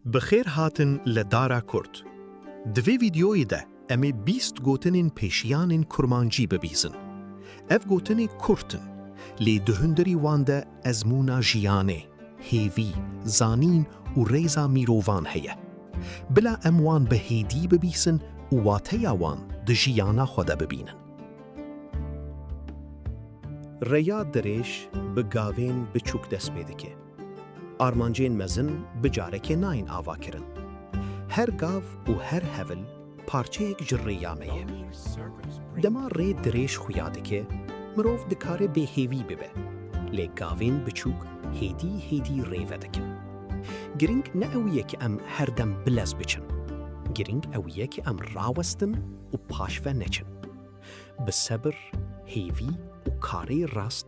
Bi xêr hatin li Dara Kurd. Di vê vîdeoyê de em ê bîst gotinên pêşiyanên kurmancî bibîzin. Ev gotinê kurt in, lê di hundirî wan de ezmûna jiyanê, hêvî, zanîn û rêza mîrovan heye. Bila em wan bi hêdî bibîsin û wateya wan di jiyana xwe de bibînin. Rêya dirêj bi gavên biçûk dest pê dike. Armancên mezin bi carekê nayên avakirin. Her gav û her hevil parçeyek ji rêya me ye. Dema rê dirêj xuya dike, mirov dikare bêhêvî bibe, lê gavên biçûk hêdî hêdî rê vedikin. Girîng ne ew ye ku em her dem bilez biçin, girîng ew ye ku em rawestin û paşve neçin. Bi sebir, hêvî û karê rast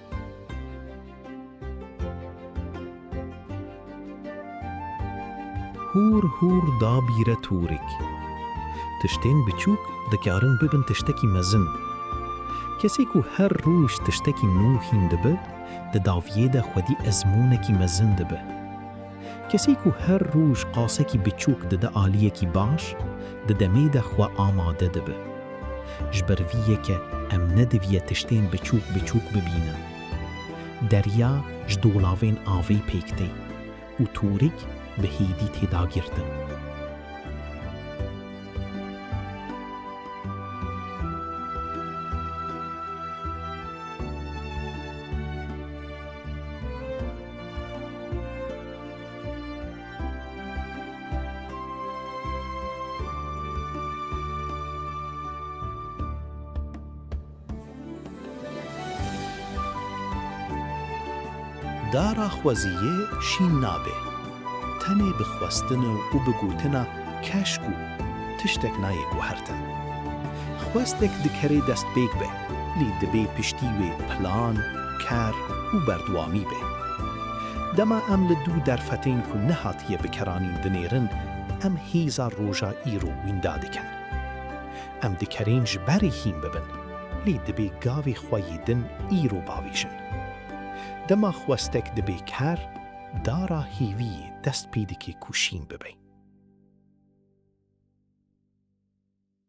Hûr hûr dabîre tûrik. Tiştên biçûk dikarin bibin tiştekî mezin. Kesê ku her roj tiştekî nû hîn dibe, di daviyê de xwedî ezmûnekî mezin dibe. Kesî ku her roj qasekî biçûk dide aliyekî baş, di demê de xwe amade dibe. Ji ber vî yeke em nediviye tiştên biçûk biçûk bibînin. Derya ji dolavên avê pêk tê û tûrik bi hêdî tê dagirtin. Dara xweziyê şîn nabe. Tenê bi xwestin û bi gotina keşk û tiştek nayê guhertin. Xwestek dikerê destpêk be. lê divê piştî wê plan, ker û berdewamî be. Dema em li du derfetên ku nehatiye bikeranîn dinêrin, em hêza roja îro wînda dikin. Em di kerên ji berê hîn bibin, lê dibê gavê xwe yê din îro bavêjin. Dema xwestek dibe ker, dara hêviyê dest pê dike ku şîn bibe.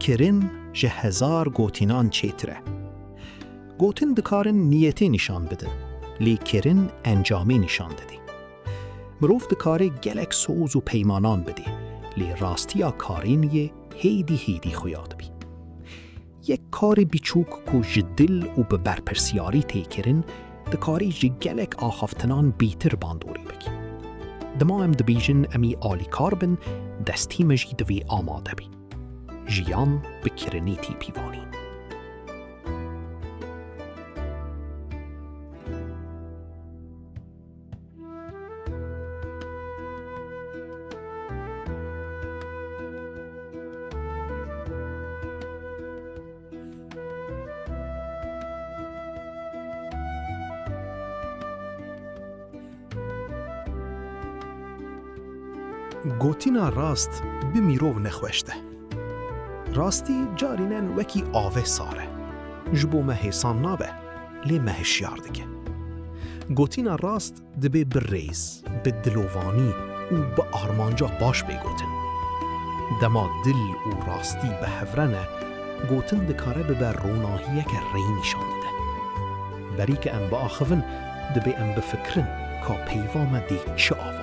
Kirin ji hezar gotinan çêtir e. Gotin dikarin niyetê nîşan bidin, lê kirin encamê nîşan didê. Mirov dikarê gelek soz û peymanan bidê, lê rastiya karên yê hêdî hêdî xuya dibî. Yek karê biçûk ku ji dil û bi berpirsyarî tê kirin, dikarî ji gelek axaftinan bîtir bandorî bike. Dima em dibêjin em ê alîkar bin, destî me jî divê amade be. Jiyan bi kirinî tê pîvanîn. Gotina rast bi mîrov nexweş de. Rastî carînen wekî avê sar e. Ji bo me hêsan nabe. lê me hişyar dike. Gotina rast dibê bi rêz, bi dilovanî û bi armanca baş bê gotin. Dema dil û rastî bi hev re ne, gotin dikare bibe ronahiyeke rê nîşan dide. Berî ke em biaxivin, dibê em bifikirin ka peyva me dê çi ava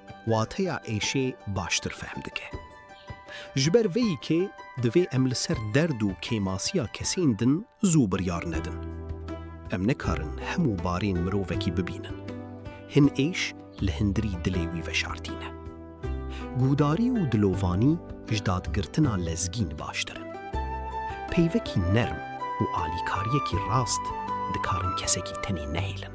wateya êşê baştir fehm dike. Ji ber vê yekê divê em li ser derd û kêmasiya kesên din zû biryar nedin. Em nikarin hemû barên mirovekî bibînin. Hin êş li hindirî dilê wî veşartîne. Guhdarî û dilovanî ji dadgirtina lezgîn baştir in. Peyvekî nerm û alîkariyekî rast dikarin kesekî tenê nehêlin.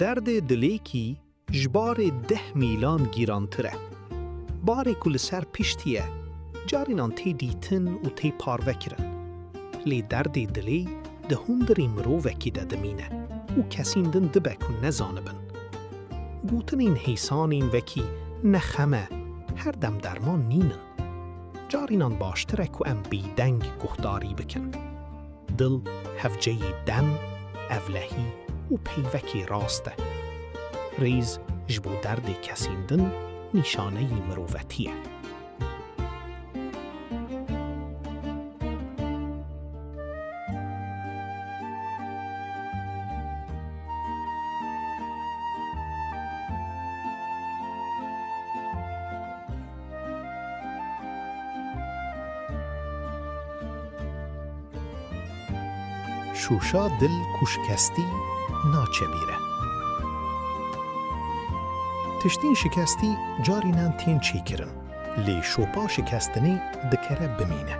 Derdê dilêkî ji barê deh mîlan gîrantir e. Barê ku li ser piştî ye, carînan tê dîtin û tê parve kirin. Lê derdê dilê di hundirî mirovekî de dimîne û kesîn din dibe ku nezanibin. Gotinên hêsanên wekî ne xem e, her dem derman nîn in. Carinan baştir e ku em bêdeng guhdarî bikin. Dil hevceyê dem, evlehî û peyvekê rast e. Rêz ji bo derdê kesên din nîşaneyî mirovetî ye. Şûşa dil ku şikestî naçebîre. Tiştên şikestî carînan tên çêkirin, lê şopa şikestinê dikare bimîne.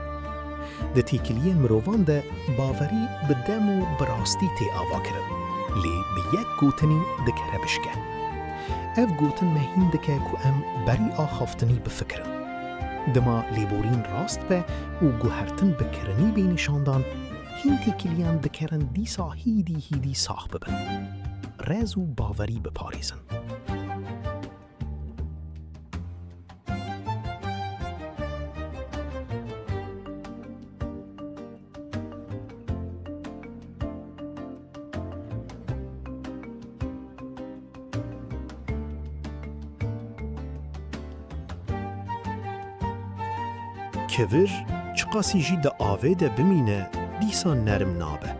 Di têkiliyên mirovan de baverî bi dem û bi rastî tê avakirin, lê bi yek gotinî dikare bişke. Ev gotin me hîn dike ku em berî axaftinî bifikirin. Dima lêborîn rast be û guhertin bi kirinî bê nîşandan, hîn têkiliyan dikerin dîsa hîdî hîdî sax bibin. Rez û baverî biparêzin. Kevir çiqasî jî di avê de bimîne dîsa nerm nabe.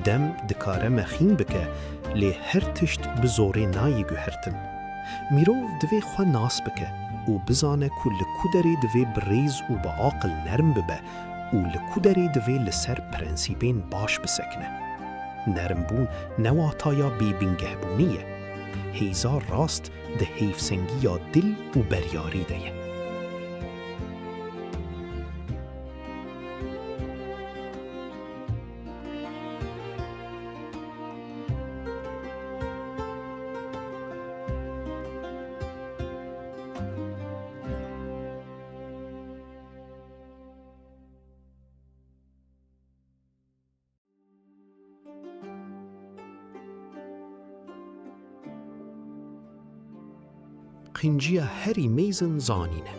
Dem dikare mexîn bike lê her tişt bi zorê nayê guhertin. Mirov divê xwe nas bike û bizane ku li ku derê divê bi rêz û bi aqil nerm bibe û li ku derê divê li ser prensîbên baş bisekine. Nermbûn ne wataya bêbingehbûnê ye. Hêza rast di hêvsengiya dil û beryarî de ye. Qinciya herî mêzin zanîn e.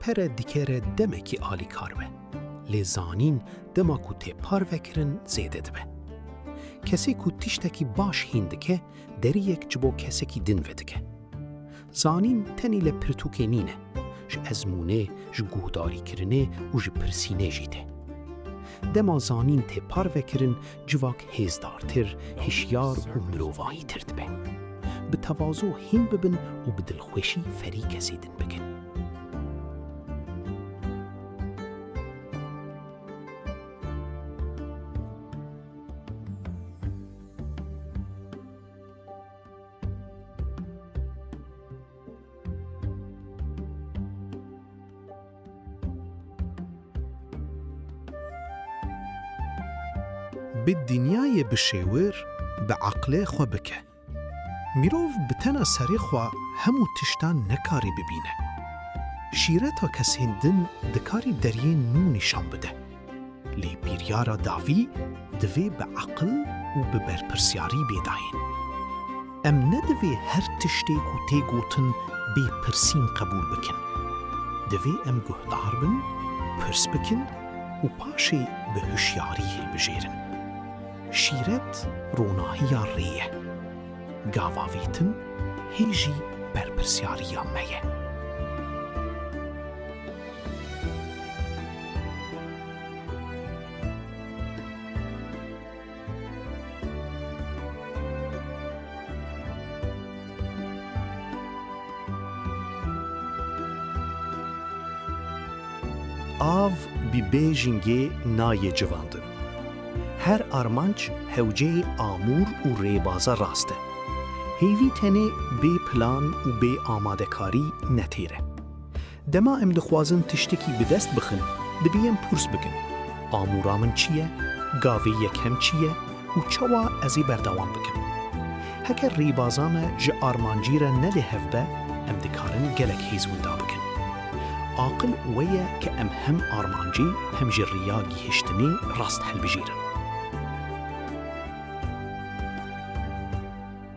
Pere dikere demekî alîkar be. Lê zanîn dema ku tê parve kirin zêde dibe. Kesê ku tiştekî baş hîn dike, deriyek ji bo kesekî din vedike. Zanîn tenê li pirtûkê nîne, ji ezmûnê, ji guhdarîkirinê û ji pirsînê jî tê. Dema zanîn tê parvekirin civak hêzdartir, hişyar û mirovahîtir dibe. Bi tevazo hîn bibin û bi dilxweşî ferî kesê din bikin. Bi dinyayê bişêwir, bi eqlê xwe bike. Mirov bi tena serê xwe hemû tiştan nekarî bibîne. Şîreta kesên din dikarî deryên nû nîşan bide. Lê biryara dawî divê bi eqil û bi berpirsyarî bê dayîn. Em ne divê her tiştê ku tê gotin bê pirsîn qebûl bikin. Divê em guhdar bin, pirs bikin û paşê bi hişyarî hilbijêrin. Şîret ronahiya rê ye. Gavavêtin hê jî berpirsyariya me ye. Av bi bêjingê nayê civandin. Her armanc hewceyê amûr û rêbaza rast e. Hêvî tenê bê plan û bê amadekarî ne têr e. Dema em dixwazin tiştekî bi dest bixin, dibî em purs bikin, Amûra min çi ye, gavê yekem çi ye û çawa ez ê berdewam bikim? Heke rêbaza me ji armancî re ne li hev be, em dikarin gelek hêz winda bikin. Aqil wê ye ke em hem armancê hem jî riya gihiştinê rast hilbijêrin.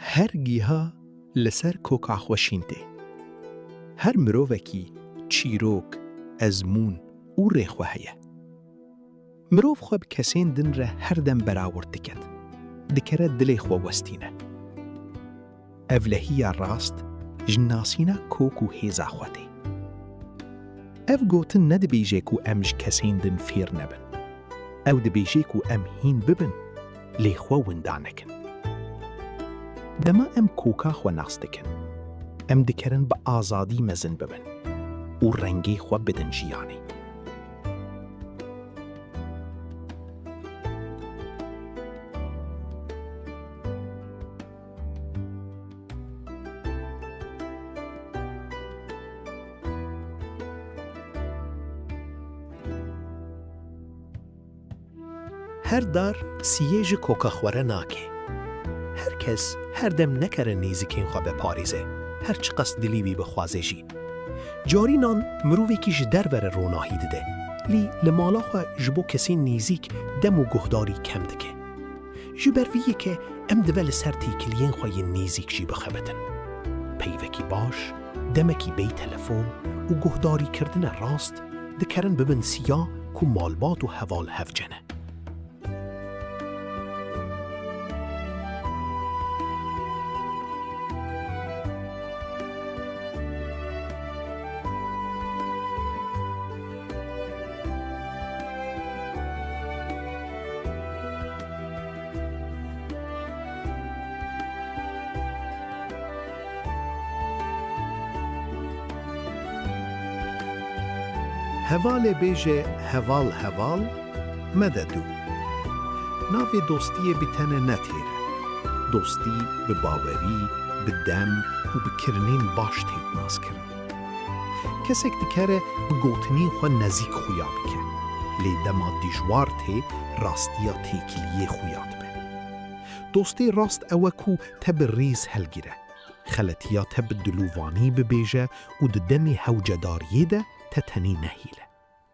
Her giha li ser koka xwe şîn tê. Her mirovekî çîrok, ezmûn û rê xwe heye. Mirov xwe bi kesên din re her dem berawird diket, dikere dilê xwe westîne. Evlehiya rast ji nasîna kok û hêza xwe tê. Ev gotin nedibêje ku em ji kesên din fêr nebin. Ew dibêje ku em hîn bibin lê xwe winda nekin. Dema em koka xwe nas dikin, em dikerin bi azadî mezin bibin û rengê xwe bidin jiyanê. Her dar siyê ji koka xwe re nake. Her kes her dem nekere nêzikên xwe veparêze, her çiqas dilî wî bixwaze jî. Carînan mirovekî ji derve re ronahî dide, lî li mala xwe ji bo kesên nêzîk dem û guhdarî kem dike. Ji ber vî yekê em dive li ser têkiliyên xwe yên nêzîk jî bixebitin. Peyvekî baş, demekî bêy telefon û guhdarîkirdine rast dikerin bibin siya ku malbat û heval hev cene. Hevalê bêje heval heval mede dû. Navê dostiyê bi tene ne têr e. Dostî bi bawerî, bi dem û bi kirinên baş têk naskirin. Kesek dikare bi gotinên xwe nezîk xuya bike, lê dema dijwar tê rastiya têkiliyê xuya dibe. Dostê rast ew e ku te bi rîz hilgire, xeletiya te bi dilûvanî bibêje û di demê hewcedariyê de te tenê nehêle.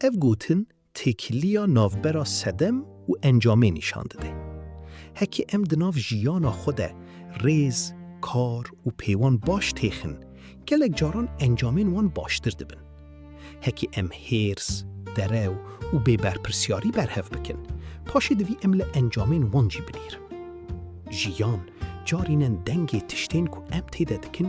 Ev gotin têkiliya navbera sedem û encamê nîşan dide. Heke em di nav jiyana xwe de rêz, kar û pêwan baş têxin, gelek caran encamên wan baştir dibin. Heke em hêrs, derew û bêberpirsyarî berhev bikin, paşê divî em li encamên wan jî binêrin. Jiyan carînen dengê tiştên ku em tê de dikin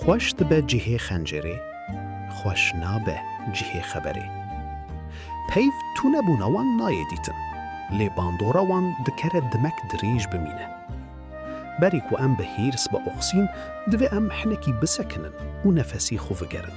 Xweş dibe cihê xencêrê, xweş nabe cihê xeberê. Peyv tunebûna wan nayê dîtin, lê bandora wan dikare dimek dirêj bimîne. Berî ku em bi hêrs bioxîn, divê em hinekî bisekinin û nefesê xwe vigerin.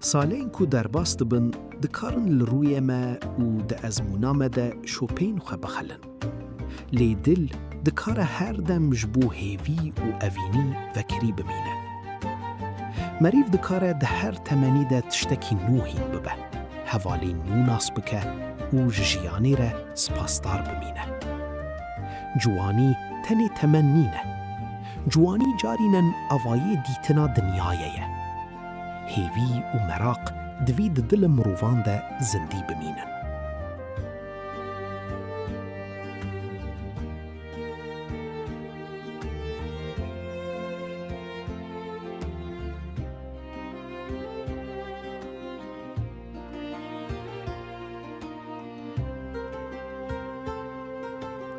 Salên ku derbas dibin dikarin li rûyê me û di ezmûna me de şopeyên xwe bixelin. Lê dil dikare her dem ji bo hêvî û evînî vekirî bimîne. Merîv dikare di her temenî de tiştekî nû hîn bibe, hevalên nû nas bike û ji jiyanê re spasdar bimîne. Ciwanî tenê temen nîne. Ciwanî carînen avayê dîtina dinyayê ye. Hêvî û meraq divî di dila mirovan de zindî bimînin.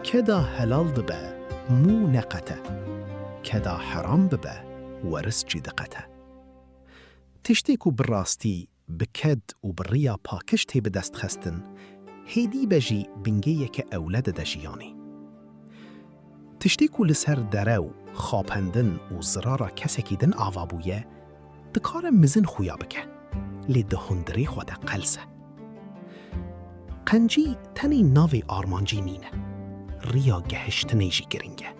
Keda helal dibe mû neqete, keda heram bibe, Weris jî diqete. Tiştê ku bi rastî, bi ked û bi riya pakiş tê bidestxestin, hêdî be jî bingeyeke ewle dide jiyanê. Tiştê ku li ser derew, xapendin û zirara kesekî din ava bûye, dikare mizin xuya bike, lê di hundirê xwe de qels e. Qencî tenê navê armancî nîne, riya gehiştinê jî giring e.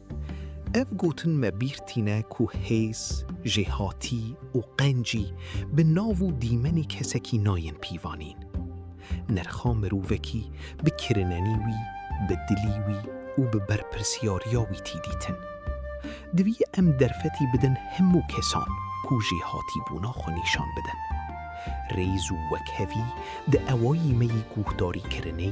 Ev gotin me bîr tîne ku hêz, jêhatî û qencî bi nav û dîmenê kesekî nayên pîvanîn. Nirxa mirovekî bi kirinenî wî, bi dilî wî û bi berpirsyariya wî tî dîtin. Divî em derfetî bidin hemû kesan ku jêhatîbûna xwe nîşan bidin. Rêz û wekhevî di ewayî me yî guhdarî kirinê,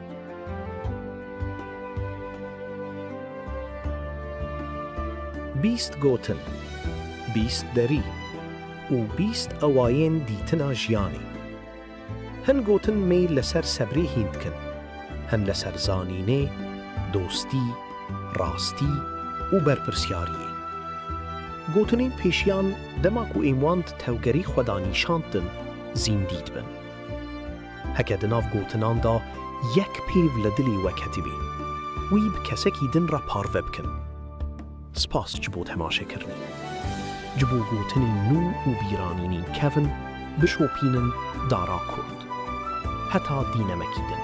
Bîst gotin, bîst derî û bîst awayên dîtina jiyanê. Hin gotin mêyl li ser sebrê hîn dikin, hin li ser zanînê, dostî, rastî û berpirsyariyê. Gotinên pêşiyan dema ku êm wan di tevgerî xwe de nîşand din, zîndî dibin. Heke di nav gotinan de yek pêv li dilê we ketibî, wî bi kesekî din re parve bikin. Spas ji bo temaşekirinê. Ji bo gotinên nû û bîranînên kevn bişopînin dara kurd. Heta dînemekî din.